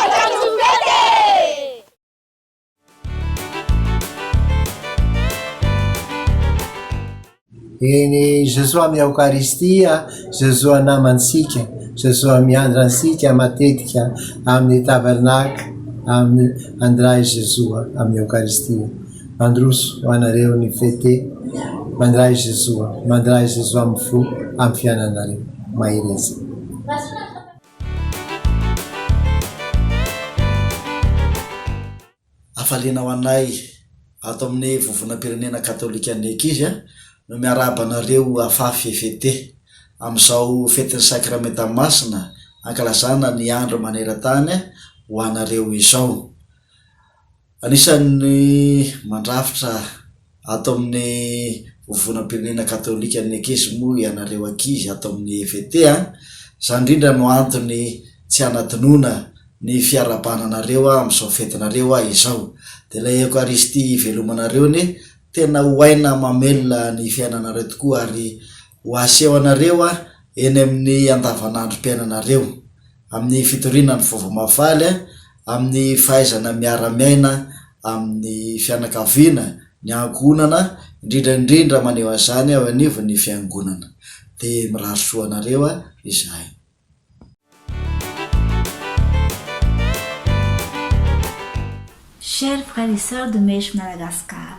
Hafatra ny fety e! Eny, Jesoa amin'ny Eokaristia, Jesoa namantsika, Jesoa miandra antsika matetika amin'ny tabernacle, amin'ny andray Jesoa amin'ny Eokaristia. Mandroso ho anareo ny fete, mandray Jesoa, mandray Jesoa amin'ny fo, amin'ny fiainanareo. Mahereza. Hafaliana ho anay ato amin'ny Vovonam-pirenena Katolikan'ny Ankizy no miarahaba anareo afafy fete, amin'izao Fetin'ny Sakramenta Masina ankalazana ny Andro Maneran-tany ho anareo izao. Anisan'ny mandrafitra ato amin'ny Vovonam-pirenena Katolikan'ny Ekezy moa ianareo ankizy ato amin'ny EVT a! Izany indrindra no antony tsy hanadinoana ny fiarahabana anareo amin'izao fetinareo aho izao. Dia ilay Eokaristia hivelomanareo anie tena ho aina mamelona ny fiainanareo tokoa ary ho asehonareo eny amin'ny andavanandrom-piainanareo. amin'ny fitoriana ny Vaovao Mahafaly, amin'ny fahaizana miara-miaina amin'ny fianakaviana, ny ankohonana, indrindra indrindra maneho an'izany eo anivon'ny Fiangonana. Dia mirary soa anareo izahay. Chers frères et sœurs de Mèche Madagascar,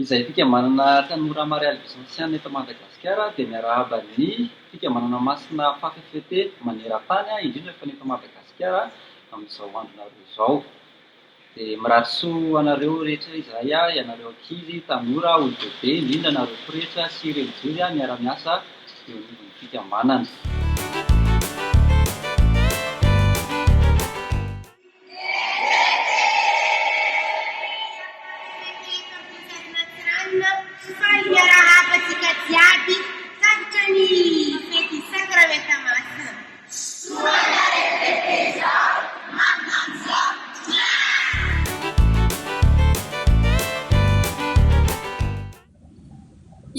Izay fikambanana tanora Marialy Vincentiana eto Madagasikara dia miarahaba ny fikambanana masina Fafy Fete maneran-tany indrindra fa ny eto Madagasikara amin'izao andronareo izao. Dia mirary soa ho anareo rehetra izahay, ianareo ankizy, tanora, olon-dehibe, indrindra anareo pretra sy relijiozy miara-miasa eo anivon'ny fikambanana.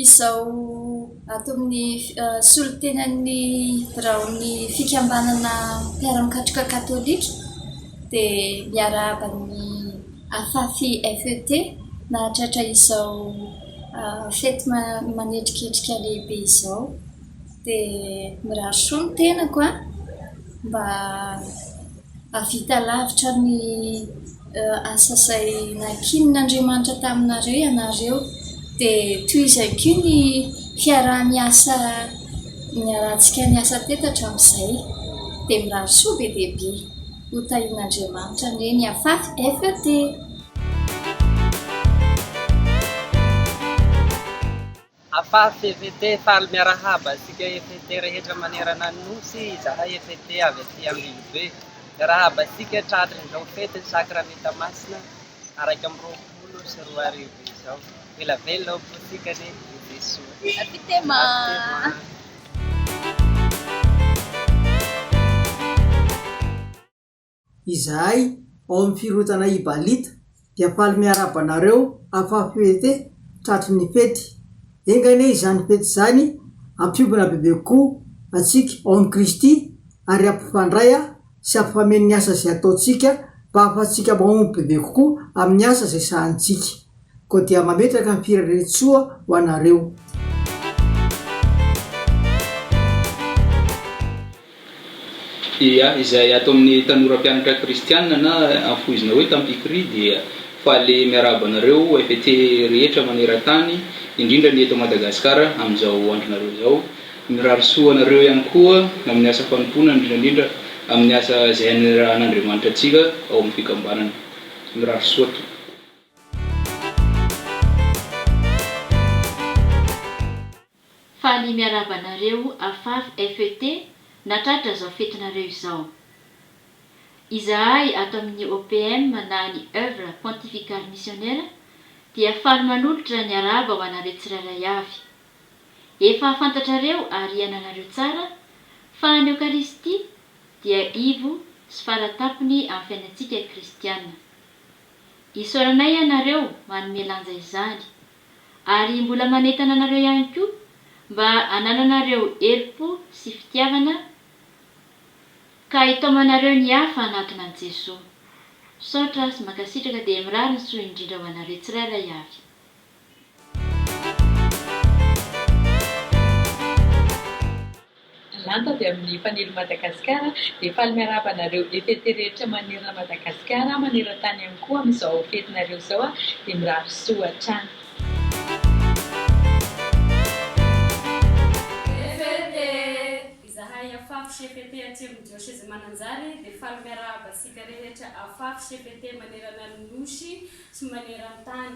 Izao ato amin'ny solontenan'ny biraon'ny fikambanana mpiara-mikatroka katolika dia miarahaba ny Afafi FET nahatratra izao fety manetriketrika lehibe izao. Dia mirary soa ny tenako an! mba hahavita lavitra ny asa izay nankinin'Andriamanitra taminareo ianareo. Dia tohizay koa ny fiaraha-miasa niarahantsika niasa teto hatramin'izay. Dia mirary soa be dia be. Ho tahian'Andriamanitra anie ny hafaty FET. Afafy FET faly miarahaba antsika FET rehetra manerana ny Nosy izahay FET avy aty Ambilobe miarahaba antsika tratry izao fety ny Sakramenta Masina iraika amby roapolo sy roa arivo izao Ela velona ao am-pontsika anie i Jesoa Apitema. Izahay ao amin'ny Firohotana Ibalita dia faly miarahaba anareo Afafyete tratry ny fety. Enga anie izany fety izany hampiobina bebe kokoa antsika ao amin'i Kristy ary hampifandray sy hampifameno ny asa izay ataontsika mba hahafahantsika mahomby bebe kokoa amin'ny asa izay sahanintsika. Koa dia mametraka ny fireren-tsoa ho anareo. Dia izay ato amin'ny tanora mpianatra kristiana na anfohizina hoe tampikry dia faly miarahaba anareo FET rehetra maneran-tany, indrindra ny eto Madagasikara amin'izao andronareo izao. Mirary soa anareo ihany koa amin'ny asa fanompoana indrindra indrindra amin'ny asa izay anirahan'Andriamanitra antsika ao amin'ny fikambanana. Mirary soa tompoko. Faly miarahaba anareo Afaf FET nahatratra izao fetinareo izao. Izahay ato amin'ny OPM na ny Œuvre Pontificale Missionnaire dia faly manolotra ny arahaba ho anareo tsirairay avy. Efa fantatrareo ary iananareo tsara fa ny Eokaristia dia ivo sy faratapony amin'ny fiainantsika kristiana. Isaoranay ianareo manome lanja izany. ary mbola manentana anareo ihany koa mba hanananareo herim-po sy fitiavana ka hitaomanareo ny hafa hanatona an'i Jesoa. Misaotra sy mankasitraka dia mirary ny soa indrindra ho anareo tsirairay avy. Lanto avy amin'ny Fanilo Madagasikara dia faly miarahaba anareo fefete rehetra manerana Madagasikara manerantany ihany koa amin'izao fetinareo izao dia mirary soa hatrany. Fefete! Izahay Afafy Cpt Atsimo Dioseze Mananjary dia faly miarahaba antsika rehetra Afafy Cpt manerana ny Nosy sy manerantany.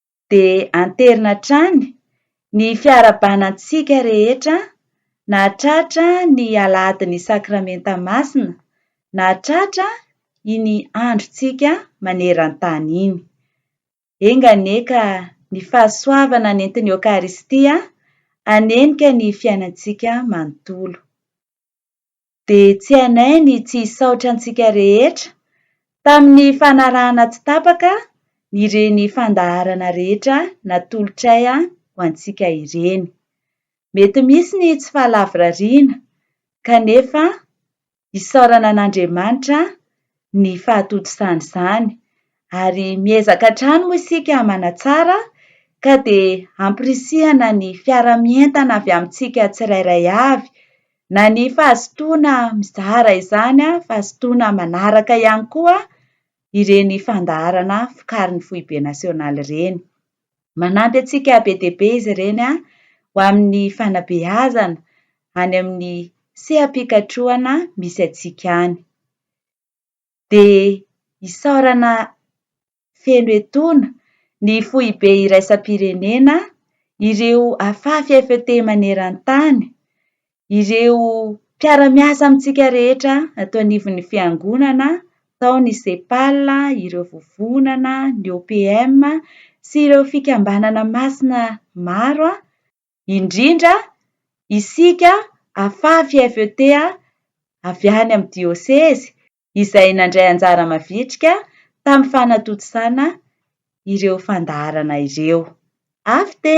dia anterina hatrany ny fiarahabana antsika rehetra nahatratra ny Alahadin'ny Sakramenta Masina nahatratra iny androntsika maneran-tany iny. Enga anie ka ny fahasoavana nentin'ny Eokaristia hanenika ny fiainantsika manontolo. dia tsy anay ny tsy hisaotra antsika rehetra tamin'ny fanarahana tsy tapaka ireny fandaharana rehetra natolotray ho antsika ireny. Mety misy ny tsy fahalavorariana, kanefa isaorana an'Andriamanitra ny fahatodisana izany. Ary miezaka hatrany moa isika manatsara ka dia ampirisihana ny fiara-mientana avy amintsika tsirairay avy, na ny fahazotoana mizara izany fahazotoana manaraka ihany koa ireny fandaharana vokarin'ny foibe nasionaly ireny. Manampy antsika be dia be izy ireny ho amin'ny fanabeazana any amin'ny seha-pikatrohana misy antsika any. dia isaorana feno etoana ny Foibe Iraisam-pirenena, ireo afafy FET maneran-tany, ireo mpiara-miasa amintsika rehetra ato anivon'ny Fiangonana, tao ny CEPAL, ireo vovonana, ny OPM sy ireo fikambanana masina maro. indrindra isika afafy FET avy any amin'ny diosezy izay nandray anjara mavitrika tamin'ny fanatontosana ireo fandaharana ireo. Afte!